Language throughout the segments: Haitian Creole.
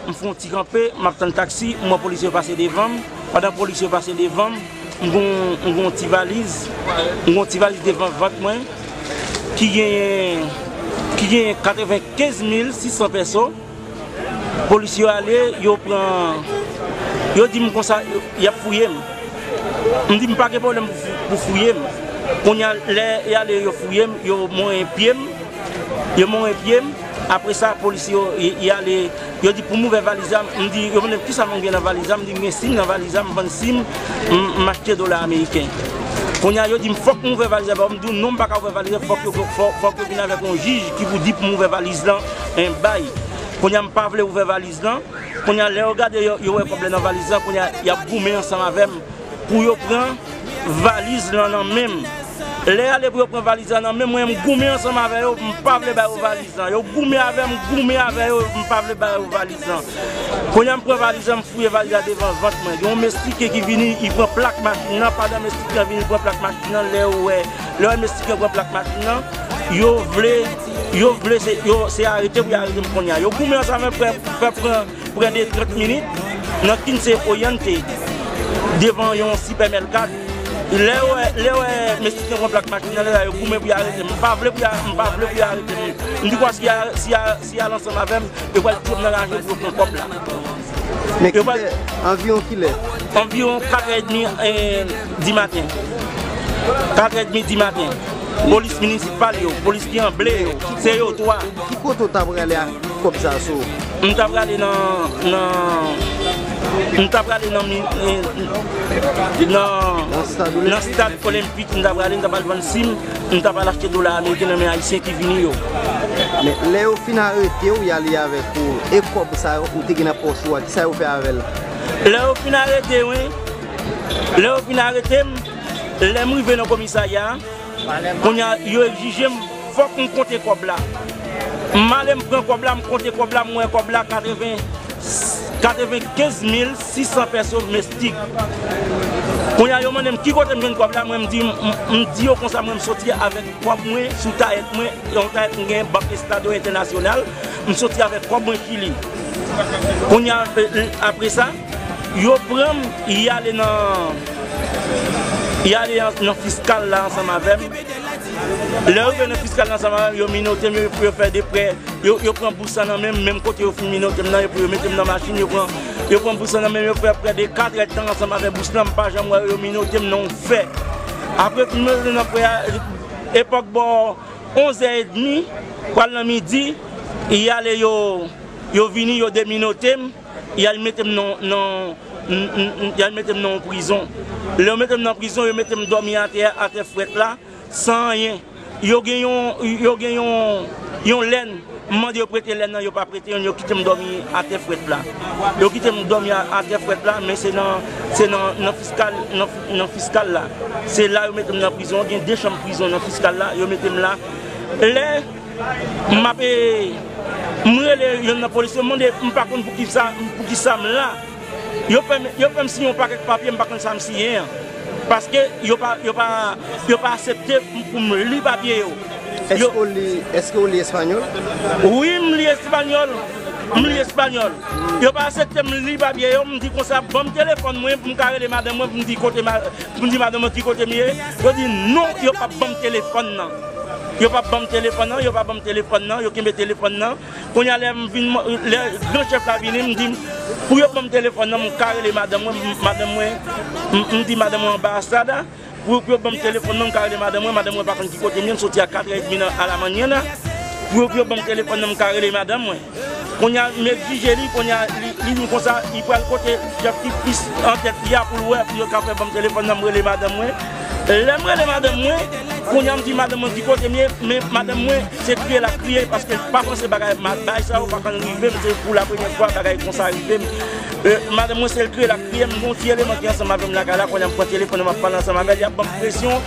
M fè yon ti kanpe, m ap tann taksi, m wè polisye yo pase devan m. Pandan polisye yo pase devan m, m gen yon ti valiz. M gen yon ti valiz devan vant mwen ki genyen 95 mil 600 pèso. Polis yo ale, yo pran, yo di m konsa y ap fouye m. M di m pa gen pwoblèm pou fouye m. Kounye a, lè y ale yo fouye m, yo monyen pye m, yo monyen pye m. Apre sa, polis yo, y ale, yo di pou m ouvè valiz la. M di yo, men kisa mwen gen nan valiz la? M di m gen sim nan valiz la, m vann sim, m achte dola ameriken. Kounye a, yo di m fòk m ouvè valiz la ba yo. M di yo non, m pa ka ouvè valiz la, fòk yo vin avèk yon jij ki pou di pou m ouvè valiz la. 1 bay Konya m pa vle ouvè valiz lan Konya lè yo gade yo yo wè kòb lè nan valiz lan Konya yap goumen ansanm avèm pou yo pran valiz lan nan menm Lè ale pou yo pran valiz lan nan menm mwen m goumen ansanm avè yo m pa vle ba yo valiz lan Yo goumen avèm m goumen avè yo m pa vle ba yo valiz lan Konya m pran valiz lan m fouye valiz la devan vant mwen Gen yon mestikè ki vini li pran plak machin lan pandan mestikè an vini li pran plak machin lan lè yo wè lè yo wè mestikè an pran plak machin lan yo vle. Yo vle se yo se arete pou yo arete m konnya. Yo goumen ansanm avè m fè fè pran prè de 30 minit nan Kinsey Oriente devan yon sipèmèlkat. Lè yo wè lè yo wè mesye te pran plak machin nan lè sa yo goumen pou yo arete m. M pa vle pou yo m pa vle pou yo arete m. M di kwa si y si y si y al ansanm avè m yo pral touye m nan raje pou yo pran kòb la. Men kilè, anviwon kilè? Anviwon 4 è demi di maten. 4 è demi di maten. Polis minisipal yo, polis ki an ble yo, se yo 3. Ki kote ou ta prale ak kòb sa sou ou? M ta prale nan, nan, m ta prale nan, nan, nan stad olenpik m ta prale, m ta pral vann sim. Nou tap al achte dola ameriken nan men ayisyen ki vini yo. Men lè yo fin aretew y ale avèk ou e kòb sa yo ou te gen nan pòch ou a kisa yo fè avèl? Lè yo fin arete mwen, lè yo fin aretem, lèm rive nan komisarya a, kounya yo egzijem fòk m konte kòb la. M ale m pran kòb la, m konte kòb la, m wè kòb la 95 mil. 600 peso mestik Kounye a yo mande m ki kote m jwenn kòb la mwen m di m di yo konsa mwen m soti avèk kòb mwen sou tayèt mwen yon tayèt m gen bank estado entènasyonal m soti avèk kòb mwen ki li Kounye a apre sa yo pran m y ale nan y ale nan fiskal la ansanm avè m lè yo rive nan fiskal la ansanm avè m yo minote m yo fè deprè yo pran bous la nan men m menm kote yo fin minote m nan epi yo mete m nan machin yo pran. Yo pran bous lan nan menm yo fè prè de 4 èd tan ansanm avè bous lan m pa janm wè yo minote m non fè apre m fin rete nan prè a epòk bò 11 è edmi pral nan midi y ale yo yo vini yo deminote m y al mete m nan nan y al mete m nan yon prizon lè yo mete m nan prizon yo mete m dòmi atè a atè frèt la. San anyen. Yo gen yon, yo gen yon, yon lèn, m mande yo prete lèn nan, yo pa prete yon, yo kite m dòmi atè frèt la. Yo kite m dòmi atè frèt la, men se nan, se nan, nan fiskal, nan fiskal la. Se la yo mete m nan prizon, gen de chanm prizon nan fiskal la, yo mete m la. Lè m ap e, m rele yonn nan polisye, m mande, m pa konn pou ki sa, pou ki sa m la. Yo fè m yo fè m siyen yon pakèt papye m pa konn sa m siyen an. Paske yo pa yo pa yo pa asepte pou m li papye yo. Èske w li èske w li espanyòl? Wi m li espanyòl, m li espanyòl. Yo pa asepte m li papye yo, m di konsa ban m telefòn mwen pou m ka rele madanm mwen pou m di kote ma pou m di madanm mwen ki kote m ye. Yo di non yo p ap ban m telefòn nan. Yo p ap ban m telefòn nan, yo pa ban m telefòn nan, yo kenbe telefòn nan. Kounye a lè m vin, lè gran chèf la vini, m di m pou yo ban m telefòn nan, m ka rele madanm mwen, madanm mwen, m di madanm mwen anba astrad la, pou yo ban m telefòn nan, m ka rele madanm mwen, madanm mwen pa konn ki kote m ye, m soti a katrè edmi nan alamannyana, pou yo ban m telefòn nan, m ka rele madanm mwen. Kounye a m egzije li, kounye a li vin konsa, li pral kote chèf ki plis antèt li a pou l wè, pou yo ka fè ban m telefòn nan, m rele madanm mwen. Lèm rele madanm mwen, kounya m di madanm mwen ki kotem ye, men madanm mwen se kriye lap kriye paske li pa panse bagay bagay sa yo pa konn rivem se pou la premyè fwa bagay konsa rivem madanm mwen sel kriye lap kriye m gon ti eleman ki ansanm avèm lakay la kounya m pran telefòn nan map pale ansanm avèl yap banm presyon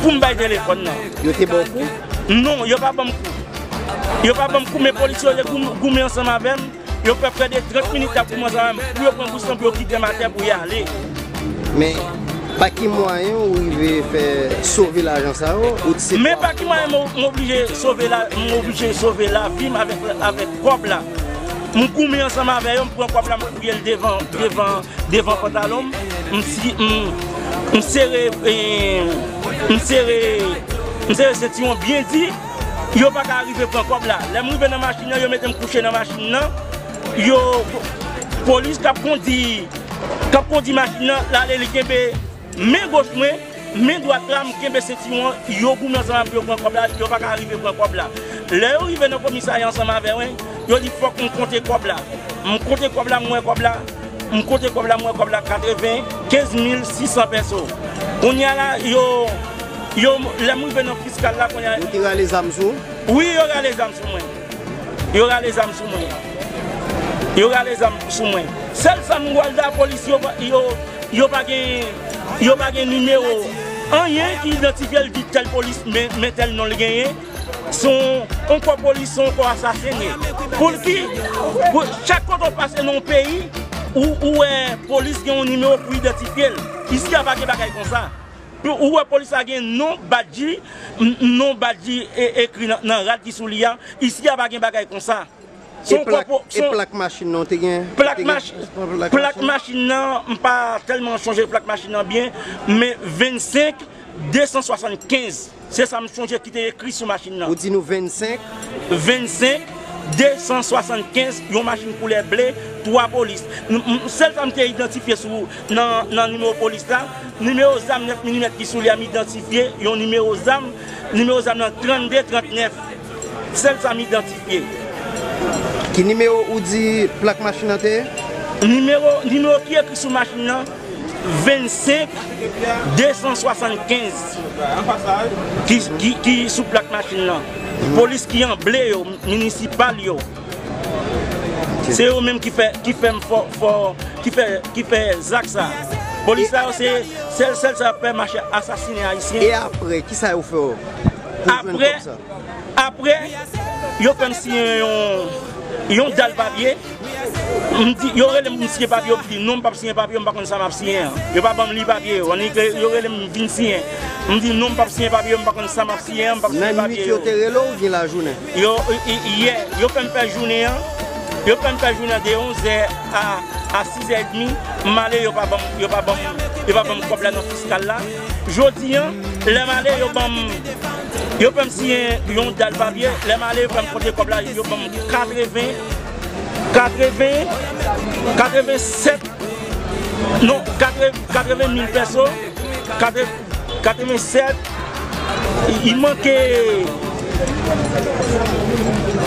poum bay telefòn nan. Yo te baw kou? Non yo pa banm kou yo pa banm kou men polisye yo te goumen ansanm avèm. Yo fè prè de 30 minit yap koumanse anvan menm pou yo pran bous lan pou yo kitem atè pou yale. Men pa ki mwayen ou rive fè sove lajan sa yo ou t se. Men pa ki mwayen m oblije sove la m oblije sove lavi m avèk avèk kòb la m goumen ansanm avè yo m pran kòb la m fouyel devan devan devan pantalon m m si m m sere m sere m sere sentiwon byen di. Yo pa ka rive pran kòb la. Lè m rive nan machin nan, yo mete m kouche nan machin nan. Yo, polis k ap kondi, k ap kondi machin nan, l ale li kenbe men goch mwen, men dwat la m kenbe sentiwon an. Yo goumen ansanm avè m pou yo pran kòb la. Yo pa ka rive pran kòb la. Lè yo rive nan komisarya ansanm avè mwen, yo di fòk m konte kòb la. M konte kòb la, m wè kòb la, m konte kòb la, m wè kòb la 95 mil 600 pèso. Kounye a la, yo. Yo lè m rive nan fiskal la kounye a. Yo te rale zam sou ou? Wi yo rale zam sou mwen. Yo rale zam sou mwen. Yo rale zam sou mwen. Sèl sa m wèl la polis yo yo pa gen yo pa gen nimewo anyen ki idantifye l di tèl polis men tèl non l genyen. Se yon kò polis se yon kò asasen. Poulki chak kote w pase nan yon peyi ou wè polis gen yon nimewo pou idantifye l. Isi a pa gen bagay konsa. Ou wè polis la gen non badji, non badji ekri nan rad ki sou li a, isi a pa gen bagay konsa. E plak machin nan ou te gen? Plak machin nan, m pa tèlman chonje plak machin nan byen, men 25 275. Se sa m sonje ki te ekri sou machin nan. Ou di nou 25? 25, 275, yon machin koulè ble, 3 polis. Sèl sa m te idantifye sou nan nimewo polis la, nimewo zam 9 milimèt ki sou li a m idantifye yon nimewo zam, nimewo zam nan 32, 39. Sèl sa m idantifye. Ki nimewo ou di plak machin nan te ye? Nimewo ki ekri sou machin nan. 25 275 ki sou plak machin lan polis ki an ble yo minisipal yo se yo menm ki fè ki fèm fò fò ki fè ki fè zak sa polis sa yo se sèl sèl sa fè mache asasine ayisyen e apre ki sa yo fè yo apre apre yo fèm siyen yon yon dal papye. M di, yo rele m pou m siyen papye yo, m di non m pap siyen papye yo, m pa konn sa m ap siyen an. Yo pa ban m li papye yo. Annik lè yo rele m vin siyen, m di non m pap siyen papye yo, m pa konn sa m ap siyen an, m pap siyen papye yo. Nan nwit yo te rele w oubyen lajounen? Yo, yè, yo fè m fè jounen an, yo fè m fè jounen an de onzè a sizè edmi, m ale yo pa ban m, yo pa ban m, yo pa ban m kòb la nan fiskal la. Jodi an, lè m ale yo ban m, yo fè m siyen yon dal papye, lè m ale yo fè m konte kòb la, yo ban m 80, 80, 87, non, 80 mil pèso, 87, li manke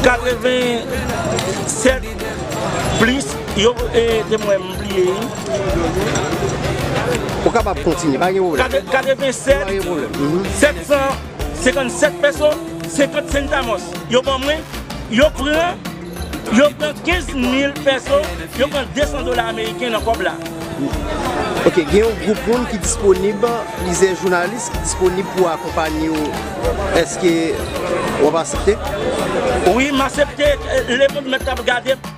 87 plis yo te mwen. Ou kapab kontinye, pa gen pwoblèm. 87 757 peso 50 centamos yo ban mwen, yo pran 15 mil peso, yo pran 200 dola ameriken nan kòb la. Ok, gen yon gwoup moun ki disponib, plizyè jounalis ki disponib pou akonpanye ou, èske w ap asepte? Wi, m asepte, Lemonn mèt ap gade m.